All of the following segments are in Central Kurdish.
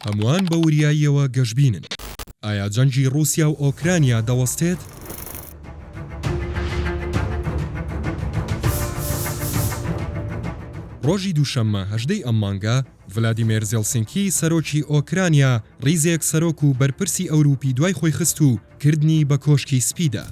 هەمووان بە وریاییەوە گەشبینن. ئایا جەنگی ڕووسیا و ئۆکرانیا دەوەستێت؟ ڕۆژی دووشەممە هەژدەی ئەم مانگە، ڤلادیمێر زێڵسینکی سەرۆکی ئۆکرانیا ڕیزێک سەرۆک و بەرپرسی ئەورووپی دوای خۆی خست و کردنی بە کۆشکی سپیدا.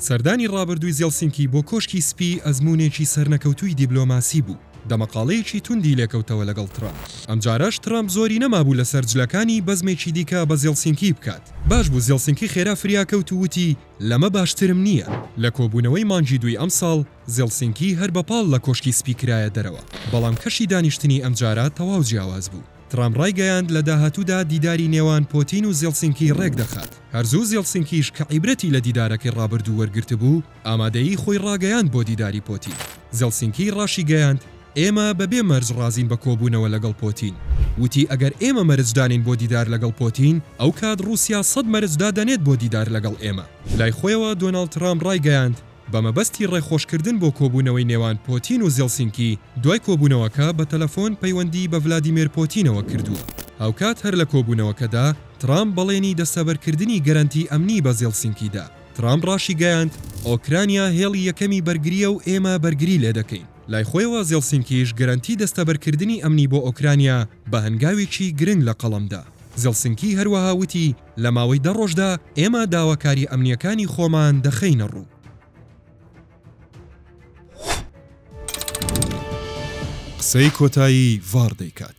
سەردانی ڕابردووی زێڵسینکی بۆ کۆشکی سپی ئەزموونێکی سەرنەکەوتووی دیبلۆماسی بوو، دەمەقاڵێیەکی توندی لێکەوتەوە لەگەڵ ترامپ، ئەمجارەش ترامپ زۆری نەمابوو لەسەر جلەکانی بەزمێکی دیکە بە زێڵسینکی بکات، باش بوو زێڵسینکی خێرا فریاکەوت و وتی لەمە باشترم نییە. لە کۆبوونەوەی مانگی دووی ئەمساڵ، زێڵسینکی هەر بە پاڵ لە کۆشکی سپی کرایە دەرەوە، بەڵام کەشی دانیشتنی ئەمجارە تەواو جیاواز بوو، ترامپ ڕایگەیاند لە داهاتوودا دیداری نێوان پۆتین و زێڵسینکی ڕێکدەخات، هەر زوو زێڵسینکیش کە عیبرەتی لە دیدارەکەی ڕابردوو وەرگرتبوو، ئامادەیی خۆی ڕاگەیاند بۆ دیداری پۆتین. زێڵسینکی ڕاشیگەیاند، ئێمە بەبێ مەرج ڕازین بە کۆبوونەوە لەگەڵ پۆتین. وتی ئەگەر ئێمە مەرج دانێین بۆ دیدار لەگەڵ پۆتین، ئەوکات ڕووسیا سەد مەرج دادەنێت بۆ دیدار لەگەڵ ئێمە. لای خۆیەوە دۆناڵد ترامپ ڕایگەیاند، بە مەبەستی ڕێخۆشکردن بۆ کۆبوونەوەی نێوان پۆتین و زێڵسینکی، دوای کۆبوونەوەکە بە تەلەفۆن پەیوەندی بە ڤلادیمێر پۆتینەوە کردووە. هاوکات هەر لە کۆبوونەوەکەدا ترامپ بەڵێنی دەستەبەرکردنی گەرەنتی ئەمنی بە زێڵسینکی دا. ترامپ ڕاشیگەیاند، ئۆکرانیا هێڵی یەکەمی بەرگرییە و ئێمە بەرگری لێ دەکەین. لای خۆیەوە زێڵسینکیش گەرەنتی دەستەبەرکردنی ئەمنی بۆ ئۆکرانیا بە هەنگاوێکی گرنگ لە قەڵەم دا. زێڵسینکی هەروەها وتی، لە ماوەی دە ڕۆژدا ئێمە داواکاری ئەمنییەکانی خۆمان دەخەینە ڕوو. قسەی کۆتایی ڤاڕ دەیکات.